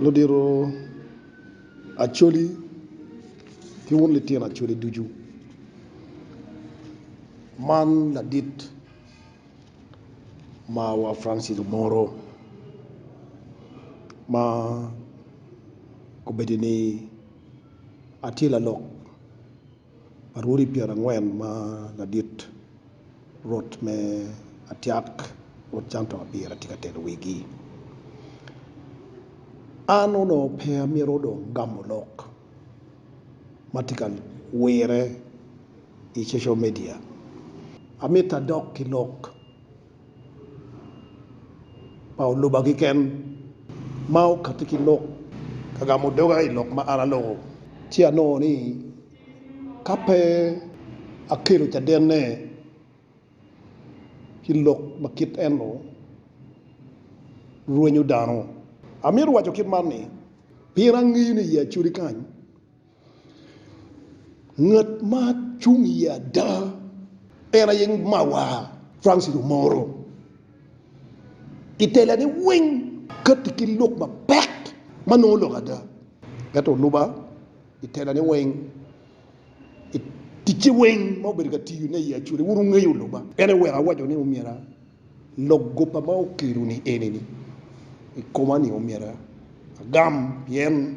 Ludito Acholi ki wun litino Acholi ducu, man ladit marwa Francis Omoro ma obedo ni atye lalok Arwodi pyerangwen ma ladit rot me Atiak rwod Canton pire tye ka telo wigi. An onongo pe amito dong gamo lok ma tye ka wire i social media. Amito adok ki lok pa oluba kiken ma okatti ki lok ka gamo doga i lok ma an aloko, ci anongo ni ka pe akelo cadenne ki lok ma kit eno rwenyo dano, amito waco kit man ni, pien angeyo ni i Acholi kany, Ngat ma cung i ye ada en aye mawar Francis Omoro i tela ne weng kati ki lok mapek ma nongo lok ada ento oluba i tela ne weng i ticce weng ma obedo ka tiyo ne i ye acwali wun wungeyo oluba en aye oweko awaco ni omyera. Lok goba ma okelo ni eni ni i koma ni omyero agam pien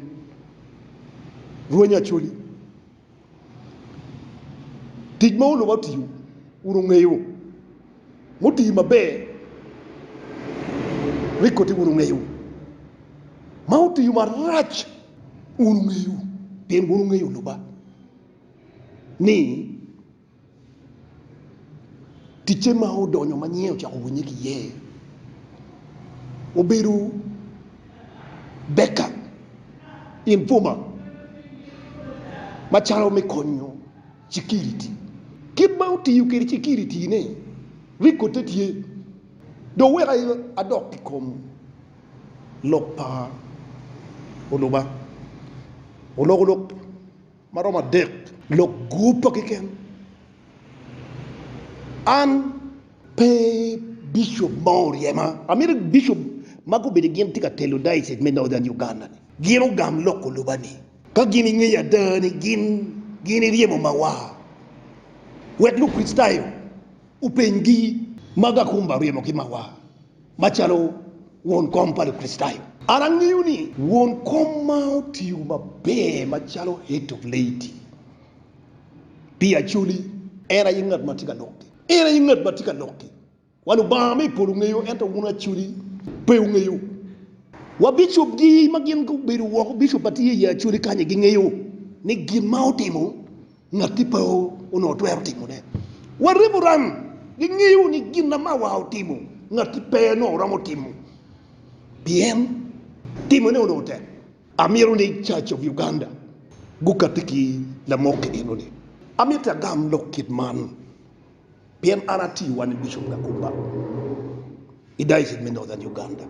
rweny Acholi tic ma olubo otiyo wun wungeyo mutiyo maber ni koti wun wungeyo ma otiyo marac wun wungeyo pien wun wungeyo oluba ni Ticce ma odonyo ma nyinge ocako winye ki iye obedo Beckham informer macalo me konyo cukiriti. Kit ma otiyo kwede cukiritine rikote tye dong wek adok i kom lok pa oluba olok olok. ma romo adek. Lok guppa keken. An. Pe Bishop mo oryema. Amito Bishop ma gubedo gin tye ka telo Diocese me Northern Uganda ni gin ogam loko loba ni ka gin ingeyo ada ni gin gin iryemo mawa. Wek Lukricitayo openy gi, Mago akumba oryemo ki mawa. Macalo won kom pa Lukricitayo, an angeyo ni won kom ma otiyo maber macalo Head of Laity pi Acholi en aye ngat ma tye ka lokki. En aye ngat ma tye ka lokki. Wa Lubanga me i polo ngeyo, ento wun Acholi pe wungeyo. Wa bicopgi ma gin gubedo woko, bicop ma tye i Acholi kany-nyi gingeyo ni gin ma otimo. Ngatti pe onongo twero timone. Waribo rang, gingeyo ni gin na mawa otimo, ngatti pe onongo romo timo, pien timone onongo tek. Amito ni Church of Uganda gukatti ki lamok enoni. Amito agam lok kit man. Pien an atiyo wan i Bishop Gakumba i Diocese me Northern Uganda,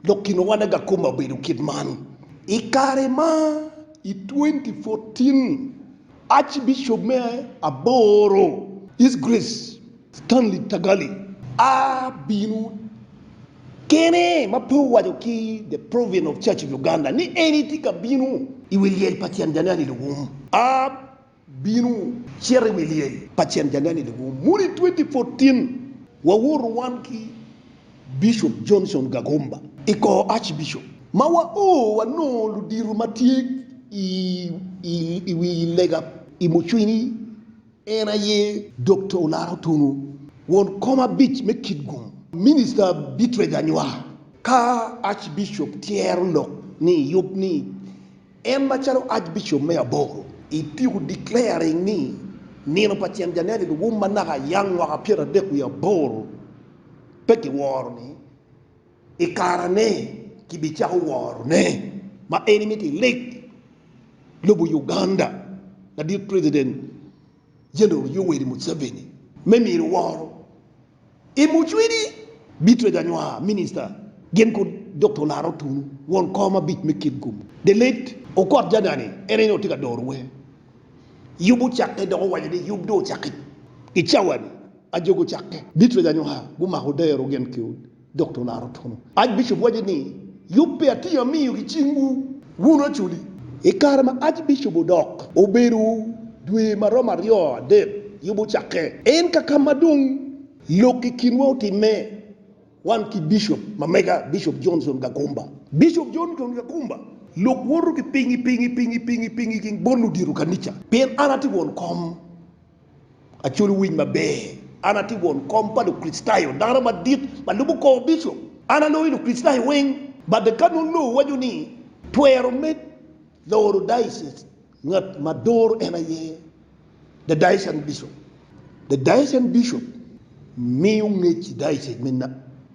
dok kinwa wan Gakumba obedo kit man. I kare ma i 2014, Archbishop me aboro, His Grace Stanley Tagalli, a bino kene ma pe owaco ki the Provian of Church of Uganda ni en etye ka bino i wi lyel pa tyen January luwum. A bino. Cit i wi lyel pa cen janene lubo muni 2014 wawoto wan ki Bishop Johnson Gagomba i kor Archbishop ma wa o wanongo ludito ma tye i wi lega i mucwini en aye Dokta Olaro Otungu, won kom abic me Kitgum, Minista Beatrice Anywar. Ka Archbishop tyero lok ni yub ni En macalo Archbishop me aboro i Pew declaring ni nino pa ceng Janeti luwum manaka ayang mwaka pyera adek wiye aboro pe giworo ni i kara ne ki bi cako woro ne ma eni miti i lik lobo Uganda ladit President General Yoweri Museveni me miro woro. I mucwini, Beatrice Anywar, Minista gin kod Dokta Olaro Otunu, won kor mabic me Kin Gum, The late Okot Jagani, en aye nongo tye ka doro wer Yub Ocakke dok owaco ni yub dong ocakke. I cawa-ni, ajogi ocakke. Beatrice Anywar gumako dero gin kod. Dok to olaro twolo. Archbishop waco ni, Yub pi atir amiyo ki cingwu, wun oculi. I kare ma Archbishop odok, obedo dwe ma romo aryo adek yub ocakke. En ka ka ma dong lok i kinwa otimme, wan ki Bishop ma mega, Bishop Johnson Gagumba. Bishop Johnson Gagumba, Lok woto ki pingi, pingi, pingi, pingi, pingi ki bot ludito kanica, pien an atye won kom Aculo winj maber. An atye won kom pa Lukricitayo, dano madit ma lubo kor bicop. An aloyo Lukricitayo weng. Bade ka nongo lowu waco ni twero med loro diocese, ngat ma doro en aye the diocesan bishop. The diocesan bishop miyo ngec i diocese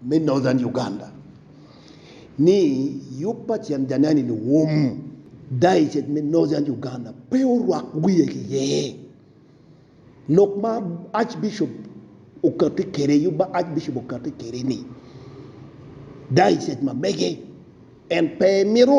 me Northern Uganda. ni yub pa cen janeni luwum dayocec me Northern Uganda pe orwak wiye ki ye. Lok ma Archbishop okati kede yub ma Archbishop okati kede ni dayocec ma mege en pe mito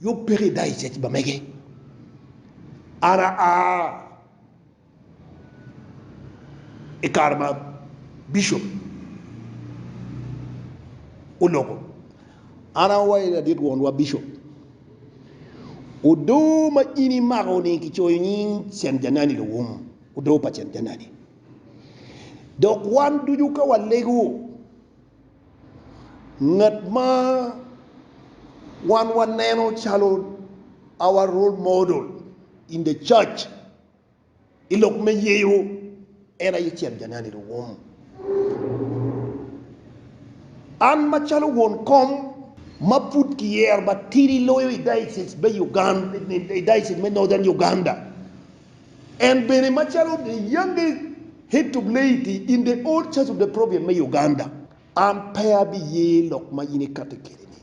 Yub peke i daycec ma mege. An aa i kare ma bicop oloko. An awaco ni ladit wonwa bicop, odo ma in imako ni kicoyo nying Cen Janani Luwum, odo pa Cen Janani. Dok wan ducu ka walego. ngat ma wan waneno calo our role model in the church i lok me yeyo en aye Cel Janani Luwum. An macalo won kom ma pud kiyero matidi loyo i Diocese me Uganda, i Diocese me Northern Uganda, En bene macalo the youngest head of laity in the old church of the province me Uganda. An pe abiye lok ma in ikati kede ni.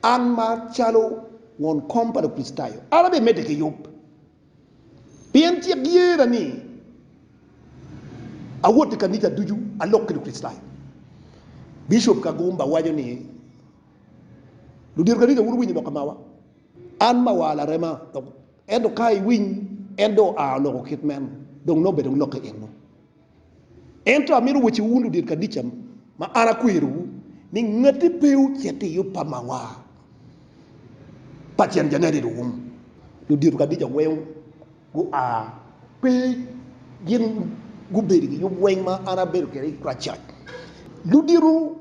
An ma calo won kom pa Lukricitayo, an abe mede ki yub. Pien cik yena ni awot i kanica ducu alok ki Lukricitayo. Bishop Kagumba waco ni, Ludito kanica wun wunyo lok amawa. An mawa larema dok Ento ka iwiny, en dong oa oloko kit meno, dong nongo bene wulokke enno. Ento amito wacciwu wun ludit kadica ma an akwerowu, ni ngati pe ocit i yub pa mawa pa cen janedit wum. Ludito kadica weng gua, pe gin gubedo i giyub weng ma an abedo kwede i Christchurch. Ludito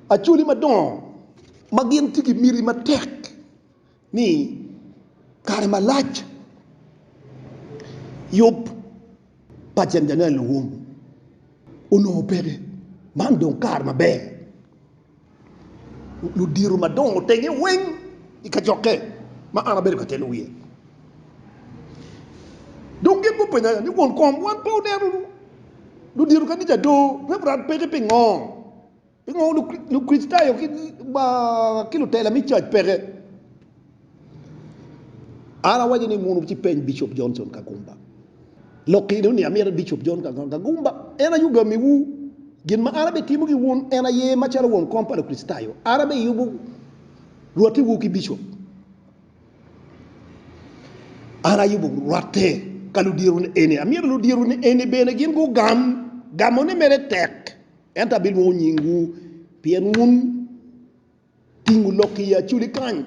Acholi madongo ma gin tye ki miti matek. ni kare malac yub pa Janjanel Luwum onongo peke, man dong kare maber ludito madongo tenge weng i kacokke ma an abedo ka telo wiye dong gin gupenya ni won kom wan pe wuneno ludito kanija doo, Reverend peke pingo? Pingo Lukricitayo ki lutela me cac peke? An awaco ni munu ci peny Bicop Johnson Kagumba. Lok eni ni amito Bicop John Kagomba Kagumba en aye ogamiwu. Gin ma an abitimo ki wun en aye macalo won kom pa Lukricitayo, an abiyubo rwattiwu ki Bicop. An ayubo rwatte ka ludyeru ni eni. Amyero ludyeru ni eni bene gin gugam gamone mere tek. Ento abilwongo nyingwu, pien wun ting wulok i aculi kany,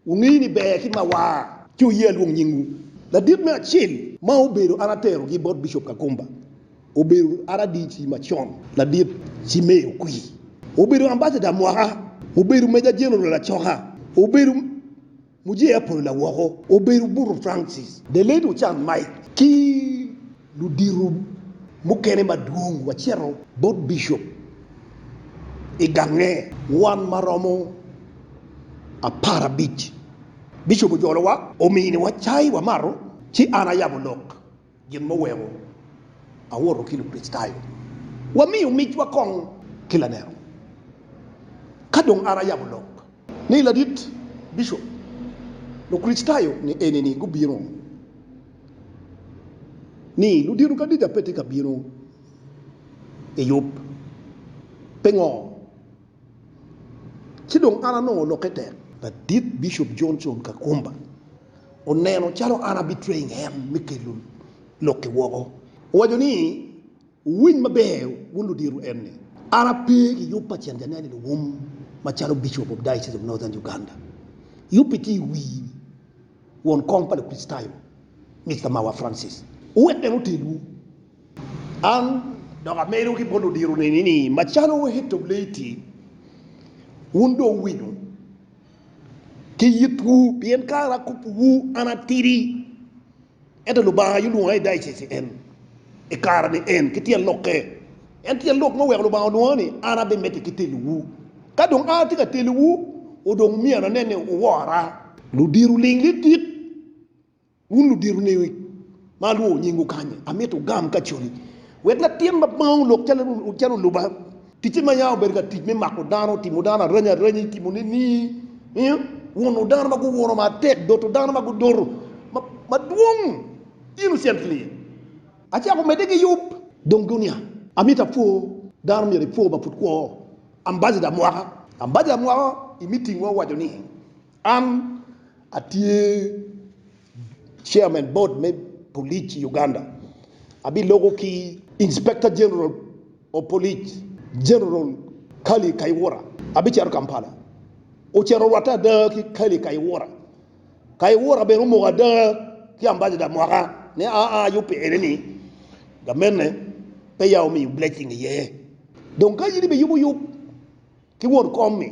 wungeyo ni ber ki mawar. Ci wuye alwong nyingwu. Ladit me acel ma obedo an aterogi bot Bicop Kakumba obedo RDC macon, Ladit Cimei Okwi. Obedo Ambasada mwaka, obedo Meja Jeneral acoka, obedo. Muje Apollo Lawoko obedo buto Francis. Deled Ochan Mike ki ludito mukene madwong wacito bot Bishop i gange wan maromo apar abic. Bishop ojolowa, ominiwa cai wamato, ci an ayabo lok. Gin muweko awoto ki Lukricitayo, wamiyo micwa kong ki laneno. Ka dong an ayabo lok ni ladit bicop, Lukricitayo ni enini gubino ni ludito kadica pe tye ka bino i yub. Pingo? Ci dong an anongo lokke tek. Ladit Bicop Johnson Kakumba oneno calo an abitweng en me kelo lokki woko. Owaco ni, Wuwiny maber wun ludito en ni, an ape ki yub pa cen janene luwum macalo Bicop of Diocese of Northern Uganda. Yubbi tye i wi won kom pa Lukricitayo, Mister Mawa Francis. Wuwek en otelwu. An dok amedo ki bot odiro neni ni, macalo Wehetob Leiti, wun dong wuwinyo ki yitwu, pien kare akobbiwu an atidi, ento Lubanga aye olwonga i diocese en, i kare ni en, ki tyen lokke. En tyen lok ma oweko Lubanga olwonga ni an abimedde ki telowu. Ka dong an atye ka telowu, odong myero anen ni wuwora. Ludiro ling lidit. Wun ludito niwi ma alwongo nyingwu kany-nyi, amito wugam ka coni, wek latin ma baŋwu olok calo oluba, ticce ma yam obedo ka tic me mako dano, timo dano aranya aranyi, timo nining, wuno dano ma guwuno matek, doto dano ma gudoto madwong. In ocel ki liel, acako medde ki yub, dong dunia. Amito apwo dano myero ipwo ma pud kwo. Ambassador mwaka. Ambassador mwaka i meeting-wa owaco ni, An atye Chairman Board me Police i Uganda, abiloko ki Inspector General of Police General Kale Kayihura, abicito Kampala, ocito orwatte ada ki Kale Kayihura, Kayihura bene omoko ada ki Ambassador mwaka ni aa yub pi eni ni gamene peya omiyo blessing iye, dong ka in ibiyubo yub ki won kom ni.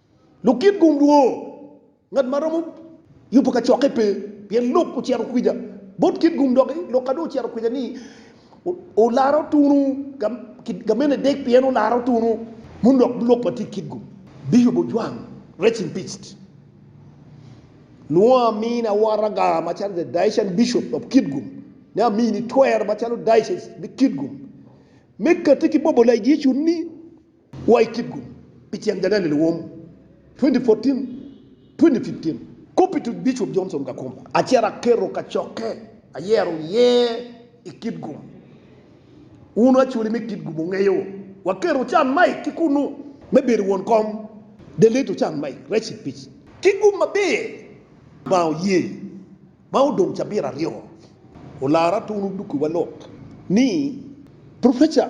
Lukit gum dwo, ngat ma romo yubo kacokke pe, pien lok ocito kwica bot kit gum dok lok ka dong ocito kwica ni olaro tunu ka mene dek pien olaro tunu mono dok lok ma tye kit gum biyubo ojwang rest in peaced nwo amin awaraga macalo the Daician Bishop of kit gum ne amini twer macalo Diocese me kit gum me kati ki bobo layicu ni Wa i kipgun pi ceng January Luwom 2014, 2015 Kop i tuk Bicop Johnson Gakumba Acer Aketo kacokke ayero iye i kipgun Wun acwali me kipgun Wungeyo waketo can Mike ki kunnu me bedo won kom Del leto can Mike rec i pic Kipgun maber ma oye Ma odong cabit aryo Olara tunu dukiwa lok ni Professor.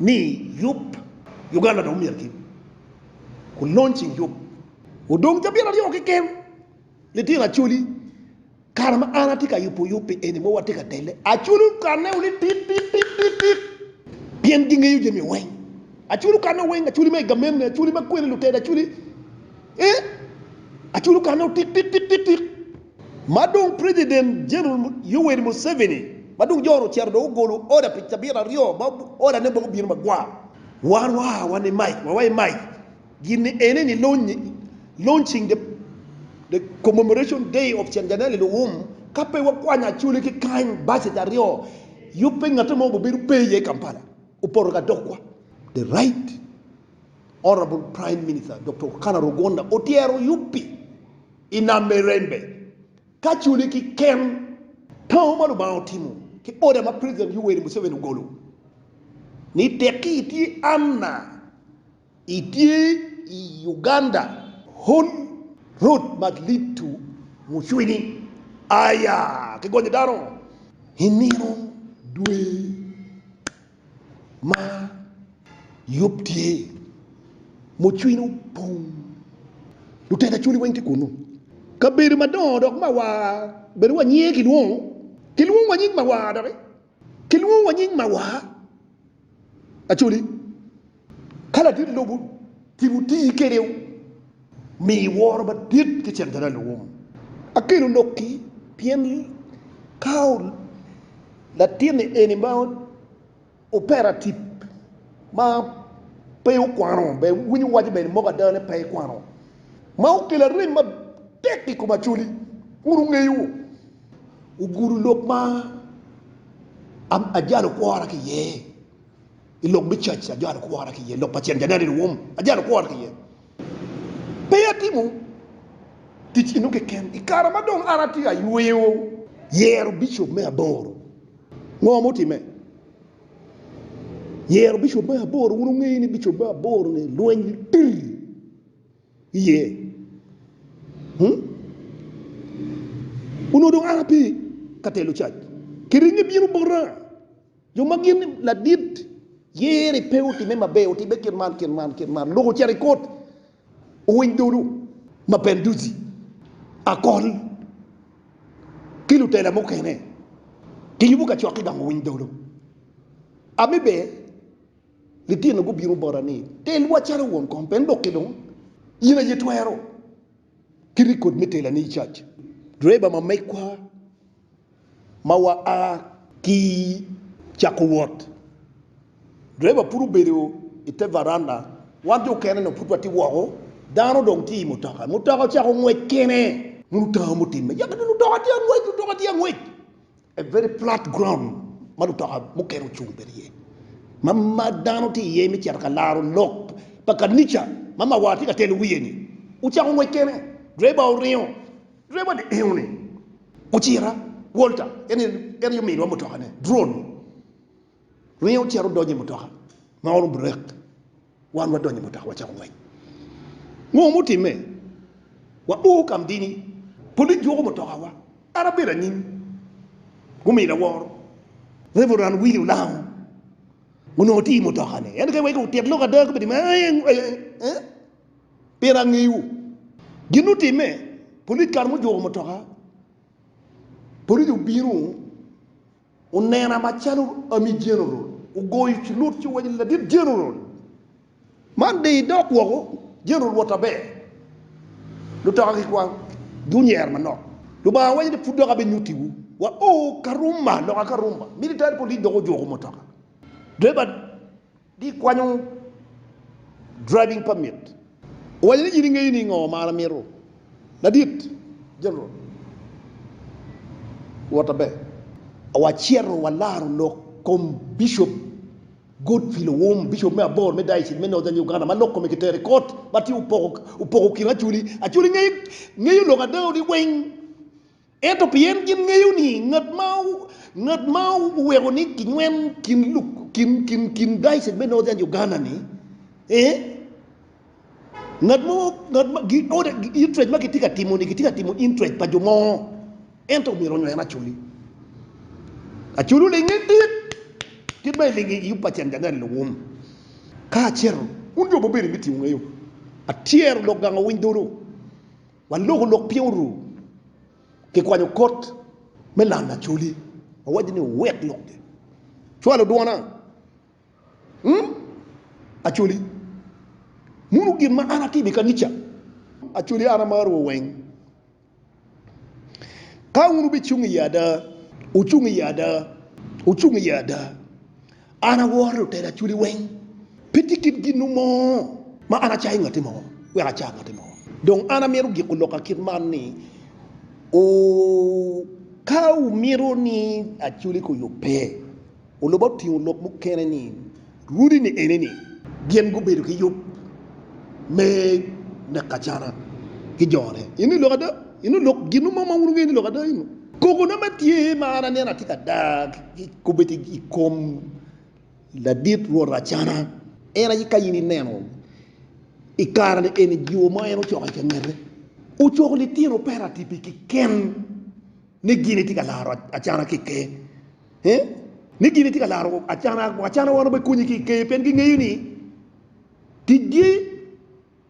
ni yub Uganda dong myero ki ku launching yub. Odong cabit aryo keken, litino Acholi, kare ma an atye ka yubo yub pi eni mogo watye ka telle, Acholi okanne o ni tit tit tit tit tit pien gingeyo jami weng, Acholi okanne o weng, Acholi me i gamenne, Acholi ma kwene luteda, Acholi eh, Acholi okanne o tit tit tit tit tit. Ma dong President General Yoweri Museveni ma dong jone ocito dong ogolo order pi cabit aryo ma order ne dong obino magwar. Wan wa wa ni Mike wa wa i Mike gin ni ene ni launching the the commemoration day of Chanjanel i Luwum ka pe wa kwanyo Acholi ki kany buses aryo yub pe ngatte mo bu bedo pe iye i Kampala opoto ka dog wa the right honourable prime minister Doktor Rukana Rugonda otyero yub pi I nam me rembe, ka culi ki ken tango ma Lubanga otimo ki oda ma President Yoweri Museveni ogolo ni tekki itye anna itye i Uganda, Hon. Rod Malitu Mucwini aya ki gonyo dano i nino dwe. ma yub tye, mucwiny opong, lutega cwiny weng tye kunnu. Kabedo madongo dok mawar bene wa nyinge kilwongo, kilwongo wa nying mawar doki, kilwongo wa nying mawar, Acholi. Ka ladit lobo timo tii kede u mi woro madit ki cen tera lwom akelo lok ki pien ka u latin ni eni ma opera tip ma pe u kwano be winyo waco bene moko ada ni pe i kwano ma u kela rem ma tek i kom acoli kun u ngeyo u gudo lok ma a jalo kwora ki iye. I lok me cac ma ajwalo kwora ki iye, lok pa Cen January rwom, ajwalo kwora ki iye. Pe atimo tic eno keken. I kare ma dong an atye ka yweyo. Yero bicop me aboro. Ngo ma otimme? Yero bicop me aboro. Wun wungeyo ni bicop me aboro-ni lweny litir iye. Hmm? Onongo dong an ape ka telo cac. Kiringe bino bota. Jo ma gin ladit yeri pe otime maber, otime kit man, kit man, kit man. Lok ocito ikot owiny dodo ma Benduzi, Akol ki lutela mukene giyubo kacok ki dong owiny dodo. Ami be litino gubino bota ni, Telwa calo won kom pe dok ki dong in aye twero ki rikod me telane i cac. Driver ma megwa. Ma waa ki cako wot, driver pud obedo i te varanda, wan jo okene-nu pud watye woko. Dano dong tye i mutoka, mutoka ocako ngwec kene. Mono otamo me timme? Yaka dong lutoka tye ka ngwec, lutoka tye ka ngwec. A very flat ground ma lutoka mukene ocung bene iye, ma dano tye iye me cito ka laro lok pa kanica ma mawar tye ka telo wiye-ni. Ocako ngwec kene, driver oringo. Dwe madingoni, ocira Walter, en aye omiwa mutokane, Dron, ringo ocito odonyo i mutoka ma oro burek, wan wadonyo i mutoka wacako ngwec. Ngo ma otimme? Wa o Kamdini, polic juko mutokawa, an abedo anyim, gumiyo lawor, Reverend Willie Olango, onongo tye i mutokane, en keken wek otit lok ada, gubedo ni, Ee, ee, ee. Pire angeyiwu. Gin ma otimme, Police kare ma ojuko mutoka, Police obino onena macalo Army General ogoyo cilut ci owaco ni ladit General man de idok woko, General wot aber, lutoka gikwang gunyer manok. Lubanga waco ni pud dok abinyutiwu wa oo Karuma loka Karuma, Military Police dok ojuko mutoka, driver. Gikwanyo driving permit. Owaco ni, In ingeyo ni ngo ma an amito? Ladit, General, wot aber. Wacito walaro lok kom Bishop Godfrey Lowom, Bishop me aboro me Diocese me Northern Uganda ma lok kome kitero i kot ma tye opoko kin Acholi. Acholi ngeyo lok ada-ni weng. Ento pien gin ngeyo ni ngat ma ngat ma oweko ni kinywel kin luk kin kin kin dicet me Northern Uganda ni eh, ngat mo ngat ma gi order interest ma kitye ka timo ni kitye ka timo interest pa jo mo ento myero onyo en aculi aculu linge dit kit ma ilinge i upa cen January luwum ka acito wun jo ma obedo i meeting wungeyo atyero dok gang owiny dodo. Wan loko lok piny oru kikwanyo kot me lam lacoli wawaco ni owek lok gi cwalo dwona mm acoli muno gin ma an atimo ikanica acoli an amaro wa weng ka un wubicung iye ada wucung iye ada wucung iye ada An aworo lutela aculi weng. Pe tye kit ginnu mo ma an acayo ngatti mo wek aca ngatti mo. Dong an amito giko loka kit man ni, ooh, ka wumito ni aculi ko yub pe, oluba otingo lok mukene ni, rudi-ni eni ni, gin gubedo ki yub me neko acana ki jone. Eno lok ada? Eno lok ginnu mo ma wun wungeyo ni lok ada eno? Kogona ma tye ma an aneno atye ka dag kobbe tye i kom ladit rwot Racana. En aye ka in ineno i kare-ni eni jiwo ma en ocoko i kangete, ocoko litino peratipi kiken ni gin itye ka laro acana ki i ker. Ni gin itye ka laro acana, acana wano be konyi ki i ker pien gingeyo ni ticgi.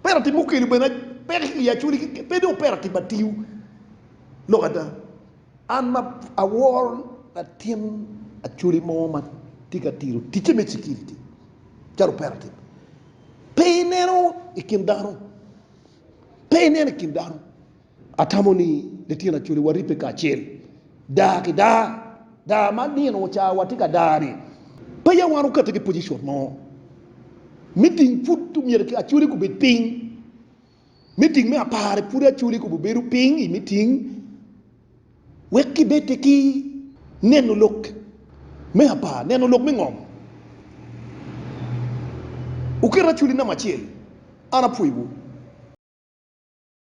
Operative mukelu bene peke ki i Acholi keken, pe dong operative matiyo lok ada. An ma awor latin Acholi mo ma tye ka tito ticce me security calo operative, pe ineno i kin dano, pe ineno i kin dano. Atamo ni litino acoli waribbe kacel daa ki daa. Daa ma nino ocawa watye ka daa-ni, pe ya wan okette ki pojicon mo. Miting pud omyero ki acoli gubed piny. Miting me apar-ri pud acoli kubo bedo piny i miting wek gibedde ki neno lok me apar, neno lok me ngom. Wuket acoli namba acel, an apwoyowu.